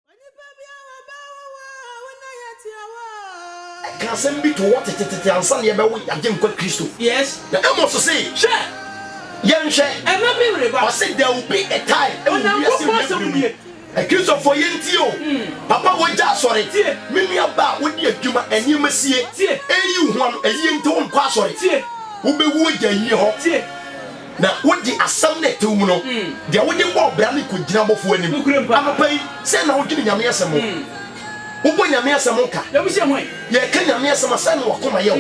Onipa bi a wɔbaa wo hɔ a wo na yɛatua wo a. Ɛka asɛm bi too hɔ tetetete ansa na yɛbɛwo yɛn Agyenkwa Kristo. Na Amos se, Hwɛ! Yɛnhwɛ! Ɔse, There will be a time, ɛwɔ wiase mfimfini mu yi. Akristofoɔ, yɛntie o! Papa wagya asɔre. Me nua baa a wodi adwuma, nneɛma sie. Eyi wo ho ano, ɛyie nti wonkɔ asɔre. Wobɛwu agya ayie hɔ. Na wode asɛm no a ɛtew mu no, deɛ wode bɔɔ bra no kɔgyina abɔfoɔ anim. Anɔpa yi, sɛn na wodwene Nyame asɛm ho? Wobɔ Nyame asɛm nka? Yɛka Nyame asɛm a, sɛn na w'akoma yɛ wo?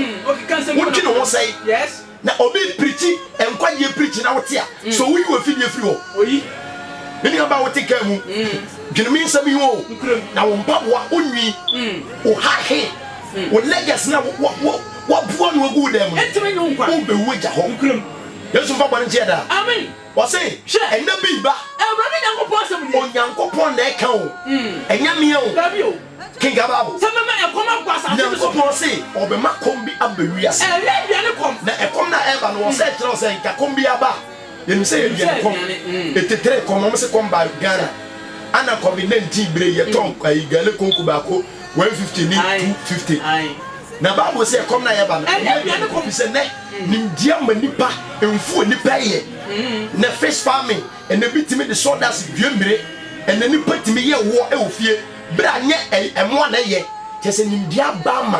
Wodwene ho sɛn? Na obi repirikyi nkwagyeɛ pirikyi na wote a, so woyi w'afidie firi hɔ? Me nuabaa a wote kaa mu, dwene me nsɛm yi ho o, na wo mpaboa, wo nwi, wo hahe, wo leggers no a woaboa ano agu wo dan mu no, worebɛwu agya hɔ. Yesu mfa bɔne nkyɛ yɛ daa. Amen. Ɔse, Hwɛ. Ɛnna bi reba. Awurade Nyankopɔn asɛm nie. Onyankopɔn na ɛka o. Ɛnyɛ me o. Dabi o. Kenkan Bible. Sɛ mɛma ɛkɔm abɔ asase no so. Nyankopɔn se ɔbɛma kɔm bi aba wiase. Ɛnyɛ aduane kɔm. Na ɛkɔm no a ɛreba no, wɔsɛ ɛkyerɛ wo sɛ nka kɔm biara ba a, yɛnim sɛ ɛyɛ aduane kɔm. Ɛtetere kɔm. Wɔse kɔm baa Ghana. Ana Covid-19 bere yi, yɛtɔɔ gale konku baako. one fifty ne two fifty na bible sɛ ɛkɔm na yɛba no ɛnyɛ bia ne kɔpi sɛ nɛ mm. nimdeɛ ma nipa mfu onipa yɛ mm. nɛ fish farming ɛnɛ bi tumi de sawdust dua mmire ɛnɛ nipa tumi yɛ woɔ ɛwɔ fie berɛ a nyɛ ɛmoa na ɛyɛ kyɛ sɛ nimdeɛ aba ma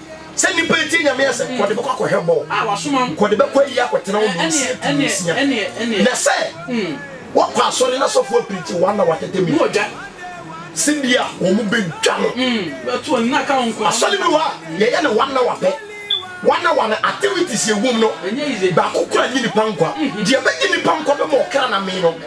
Sɛ nnipa a etie Nyame asɛm kɔ de bɛkɔ akɔhwɛ bɔ a wɔasoma wɔn kɔ de bɛkɔ ayi akɔtena hɔ mmeasia tu mmeasia, na sɛ wɔkɔ asɔre na sɔfo apirikyi wɔn na wɔatɛtɛ mu a, sɛnea wɔbedwa no. Asɔre bi wɔ hɔ a, yɛyɛ no one hour pɛ. One hour no, activities a ɛwom no, baako koraa nnye nnipa nkwa. Deɛ ɛbɛgye nnipa nkwa bɛma ɔkra no amee no,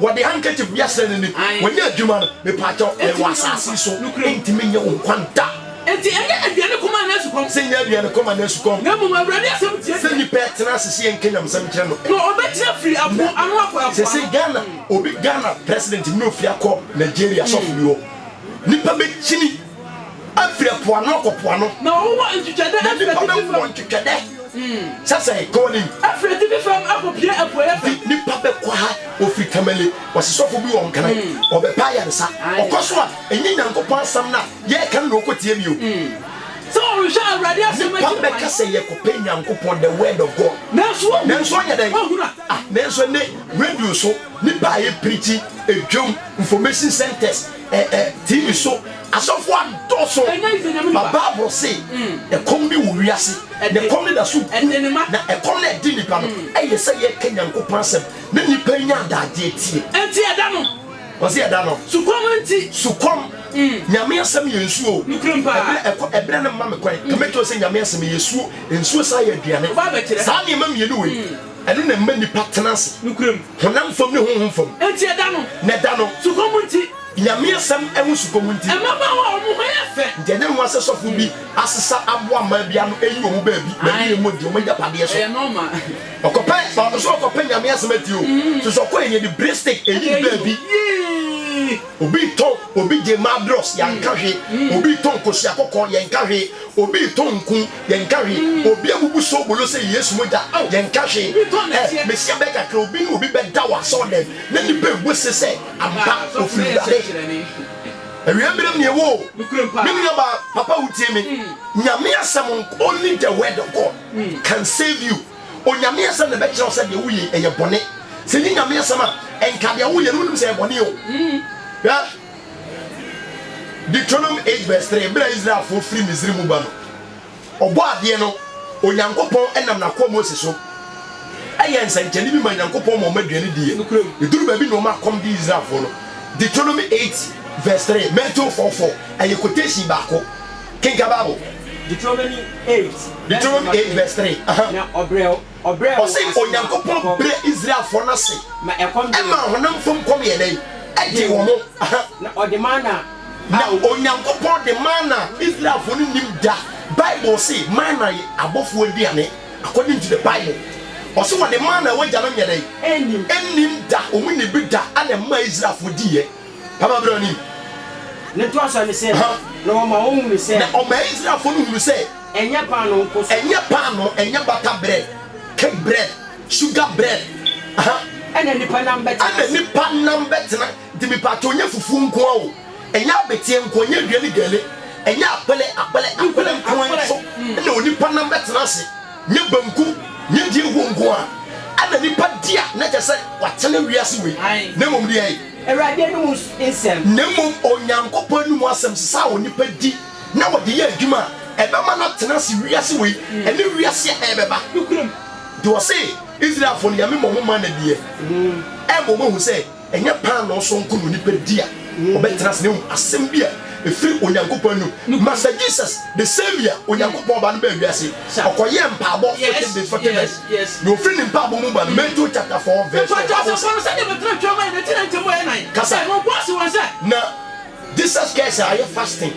Wɔde handkerchief bi asra n'ani. W'anya adwuma no, mepaakyɛw, yɛwɔ asase yi so, ɛntumi nyɛ wo nkwa da. Enti ɛnyɛ aduane kɔm anaa sukɔm. Sɛ ɛnyɛ aduane kɔm anaa sukɔm. Na mmom Awurade asɛm tie deɛ. Sɛ nipa ɛtena ase sɛ yɛnka nyamesɛm nkyerɛ no. Na ɔbɛtena firi apo ano akɔ ɛpo ano. Sɛsɛi Ghana obi Ghana president bi na ofiri akɔ Nigeria sɔfo bi hɔ. Nipa bɛkyini. afiri ɛpo ano kɔ po ano. Na wɔn wɔ ntwitwɛdɛ afiri atifi fam. Na nipa bɛ wɔ ntwitwɛdɛ. Sɛ sɛ kɔ wɔ nim. Afiri atifi fam akɔ pue apueɛ fam. Nti nipa bɛ kɔ ha wɔ firi Tamale wɔ se sɔfo bi wɔ Nkran wɔ bɛ pɛ ayaresa ɔkɔ so a ɛnyɛ Nyankopɔn asɛm na yɛ ka no na ɔkɔ tie bio. Sɛ ɔrehwɛ Awurade asɛm akyi kwan. Nipa bɛ ka sɛ yɛ kɔ pɛ Nyankopɔn the word of God nanso wɔn nanso ɔnyɛ dɛn ah nanso ɛnɛ radio so nipa a yɛ pirikyi ɛdwom information centers. Eh eh TV so asɔfo adɔso ma bible se ɛkɔm bi wɔ wiase na ɛkɔm no daso gu na ɛkɔm no ɛde nipa no ɛyɛ sɛ yɛka Nyankopɔn asɛm na nipa nya adagyeɛ tie ɛnti ɛda no wɔse ɛda no sukɔm nti sukɔm Nyame asɛm yɛ nsuo ɛberɛ ɛkɔ ɛberɛ no mma me kwan ka mɛkyerɛ sɛ Nyame asɛm yɛ suo nsuo saa yɛ aduane saa nneɛma mmienu wei Ɛno na ɛma nnipa tena ase. Nokorɛm. Honam fam ne honhom fam. Enti ɛda no. Na ɛda no. Sukɔm nti. Nyame asɛm ho sukɔm nti. Mmabaawa a wɔn ho yɛ fɛ. Nti ɛnyɛ nwa sɛ sɔfo bi asesa aboa mmaa bi ano ayi wɔn baabi na awie mu adi wɔn agyapadeɛ so. Ɛyɛ normal. Ɔkɔpɛ, ɔno so ɔkɔpɛ Nyame asɛm atie o. So sɛ ɔkɔɛ neɛ de bere stick ayi ne baabi. Yii. Obi retɔn, obi gye mmaa dross, yɛanka hwee. Obi retɔn kosua kɔkɔɔ, yɛnka hwee. Obi retɔn nku. Yɛnka hwee. Obi abubu soobolo sɛ Yesu mogya. Yɛnka hwee. Ɛ, Mesia bɛyɛ kakra, obi ne obi bɛda wɔ asɔɔdɛm, na nnipa abu ase sɛ, Ampa, ofiri Awurade. Awia mmerɛ mu na yɛwɔ o. Me nuabaa, papa wotie me? Nyame asɛm nko, only the word of God can save you. Onyame asɛm na ɛbɛkyerɛ wo sɛ deɛ woyɛ yi, ɛyɛ bɔne. Sɛ ɛnyɛ Nyame asɛm a, nka deɛ woyɛ no, wonim sɛ ɛyɛ bɔne o. Hwɛ. Deuteronomy eight verse three, Bere a Israelfo firi Misiri mu ba no, Ɔbɔadeɛ no, Onyankopɔn, nam n'akoa Mose so yɛɛ nsɛnkyerɛnne bi maa Nyankopɔn ma wɔn aduane diiɛ. Ɛduruu baabi na wɔn akɔm dee Israelfoɔ no. Deuteronomy eight verse three, Matthew four four, Ɛyɛ quotation baako. Kenkan Bible. Deuteronomy eight Deuteronomy eight verse three, aha. Na ɔbrɛw. Ɔse Onyankopɔn brɛ Israelfoɔ no ase maa honam fam kɔm yɛ dɛn? Ɛdee wɔn. Na Onyankopɔn de manna, Israelfoɔ no nnim da, Bible se manna ye abɔfoɔ aduane according to the Bible. Ɔse wɔde manna a w'agyanom nyɛ dɛn? Nnim da, wɔn nni bi da ɛna ɛmaa Israelfoɔ diiɛ. Papa berɛ w'anim. Ne ntoasoɔ ne sɛ, na ɔmaa wɔn hunu sɛ. Na ɔmaa Israelfoɔ no hunu sɛ. Ɛnyɛ paanoo nko so. Ɛnyɛ paanoo, ɛnyɛ bata brɛd, kek brɛd, suga brɛd, huh. Ɛna nipa nam bɛtena ase. Ɛna nipa nam bɛtena nti mepatɔ ɔnyɛ fufuo nkoa o, ɛnyɛ abeteɛ nkoa, ɛnyɛ adua ne gɛle, ɛnyɛ akpɛlɛ, akpɛlɛ, akpɛlɛ nkoa nso na onipa nam bɛtena ase, nyɛ banku, nyɛ deɛ ɛwuo nkoa ɛna nipa di a na kyerɛ sɛ watena wiase wei, na mmom deɛ. Awurade anom nsɛm. Na mmom Onyankopɔn anom asɛm, sesa a onipa di. na wɔde yɛ adwuma a ɛbɛma no atena ase wiase wei ne wiase a ɛrebɛba de. Ɔse, Israelfo no, yɛ me ma ɔmo mana diɛ. Ɛma ɔmo hu sɛ ɛnyɛ paanoo so nko na onipa di a ɔbɛtena ase, na mmom asɛm bi a efiri Onyankopɔn anum. Master Jesus, the same year Onyankopɔn Ɔba no baa wiase, ɔkɔyɛɛ mpaabɔ forty days, forty nights, na ofiri ne mpaabɔ mu ba no, Matthew chapter four verse four, Bible se. Kasa. Na. Jesus kae sɛ ayɛ fasting,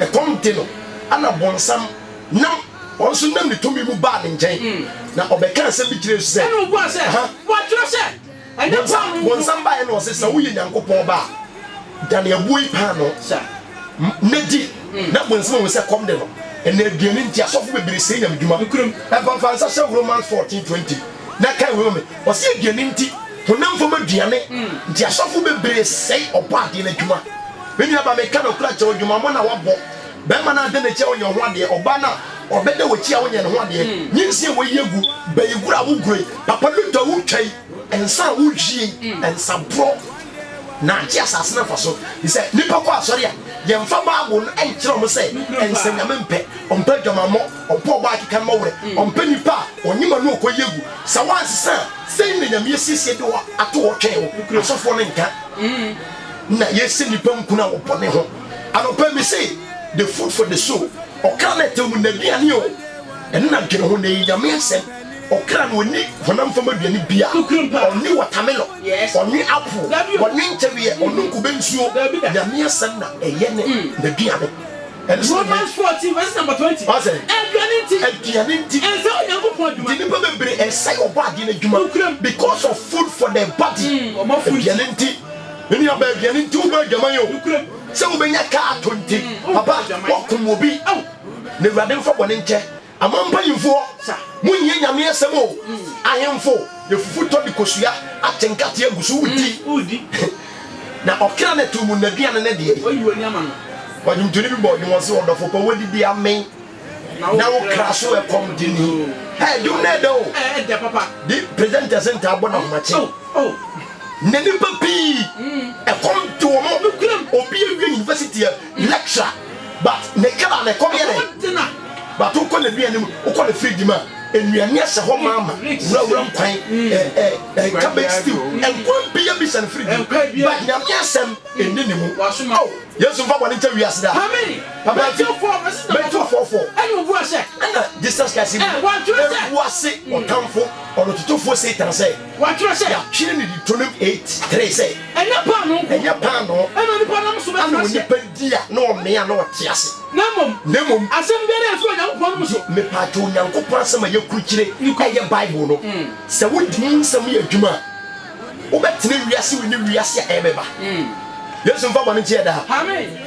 ɛkɔm de no, ɛna bonsam nam, ɔno nso nam ne tumi mu baa ne nkyɛn, na ɔbɛkaa nsɛm bi kyerɛɛ Yesu sɛ, Ɛna obuaa sɛ, Wɔatwerɛ sɛ, Ɛnyɛ Bonsam, paanoo nko. bonsam baeɛ na ɔse, Sɛ woyɛ Nyankopɔn ba a, dane ɛboɔ yi paanoo, Sa. m, na di. Na bonsam ahu sɛ kɔm de no, ɛna aduane nti asɔfo bebree sɛe Nyame dwuma. Nokorem. Ɛmfa mfa nsa hyɛ wo Romans fourteen twenty na kae wei ma me, ɔse aduane nti, Honam fam aduane nti asɔfo bebree sɛe Ɔbɔadeɛ no adwuma. Me nuabaa, mereka nokorɛ akyerɛ wo, adwumammɔ no a woabɔ, barima no a ada n'akyi a wonyɛ wo ho adeɛ, ɔbaa no a ɔbɛda w'akyi a wonyɛ ne ho adeɛ, nyinsɛn a woayi agu, bayiguro a woguroi, papa luto a wotwai, nsã a wowiei, nsaborɔ na agye asase no mfaso. Te sɛ nnipa kɔ asɔre a, yɛmfa Bible no nkyerɛ wɔn sɛ nsanyame mpɛ, ɔmpɛ adwamammɔ. Ɔmpɛ ɔbaa keka mma werɛ, ɔmpɛ nipa a ɔnye ma no ɔkɔ yi agu. Sɛ woansesa a, sɛn na Nyame asiesie de wo ato hɔ retwɛn wo? Asɔfoɔ no nka na yɛsɛ nipa nkunu a wɔbɔne ho. Anɔpa yi mese the food for the soul, ɔkra no ɛtɛw mu naduane o, ɛno na dwene ho na ɛyɛ Nyame asɛm. Ɔkra no ɔnni honam fam aduane bia, ɔnwe wɔtamelɔ, ɔnwe apple, ɔnwe ntɛweɛ, ɔnom kube nsuo, Nyame asɛm na ɛyɛ ne naduane. Romans fourteen verse number twenty. Ɔsɛ. Aduane nti. Aduane nti. Ɛnsɛ Onyankopɔn adwuma. Nti nipa bebree ɛsɛ ɔbɔ adeɛ no adwuma. Nukuram. Because of food for their body. Mm, ɔma food. Aduane nti. Nua bɛ aduane nti wobɔ adwuma yi o. Nukuram. Sɛ wobɛnya kaa to nti. Mm, papa wɔkum obi. Aw. Na awurade nfa bɔne nkyɛ. Aman mpanyimfoɔ, monhia Nyame asɛm o, ahemfo, yɛfufu tɔ de kosua, atenka te agu so wodi, na ɔkra no atuo mu nnaduane no deɛ ei. Ɔdwomtoni bi bɔɔ dwom ɔse, ɔdɔfo pa woadidi amen na wo kra so ɛkɔm de ni, ɛɛ dwom no ɛɛdɛ o, de presenters ntaa bɔ no ahomakye, nnɛ nnipa pii ɛkɔm de wɔn, obi awie university a. Lecturer but ne kra no ɛkɔm yɛ dɛn but wokɔ n'aduane mu wokɔ ne fridge mu a nnuane ahyɛ hɔ ma ama wurawura nkwan eh eh cabbage stew nkwan pii abi hyɛ ne fridge mu but nyame asɛm ɛnni ne mu oh yesu mfa bɔne nkyɛ wiase da papa ti mɛtu fɔfɔ ɛna jesus christ ɛbu ase ɔtamfo ɔnototofoɔ satan sɛ Wɔatwerɛ sɛ. Yɛatwerɛ no Deuteronomy eight three sɛ. Ɛnyɛ paanoo nko. Ɛnyɛ paanoo. Ɛna onipa nam so bɛtena aseɛ. Ɛna onipa di a na ɔmee a na ɔte ase. Na mmom. Na mmom. Asɛm biara a ɛfiri Onyankopɔn nom so. Mepaatwo Onyankopɔn asɛm a yɛkurukyire ɛyɛ Bible no. Sɛ wodi mu nsɛm yɛ adwuma a, wobɛtena wiase wei ne wiase a ɛrebɛba. Yesu mfa bɔne nkyɛ yɛ daa. Amen.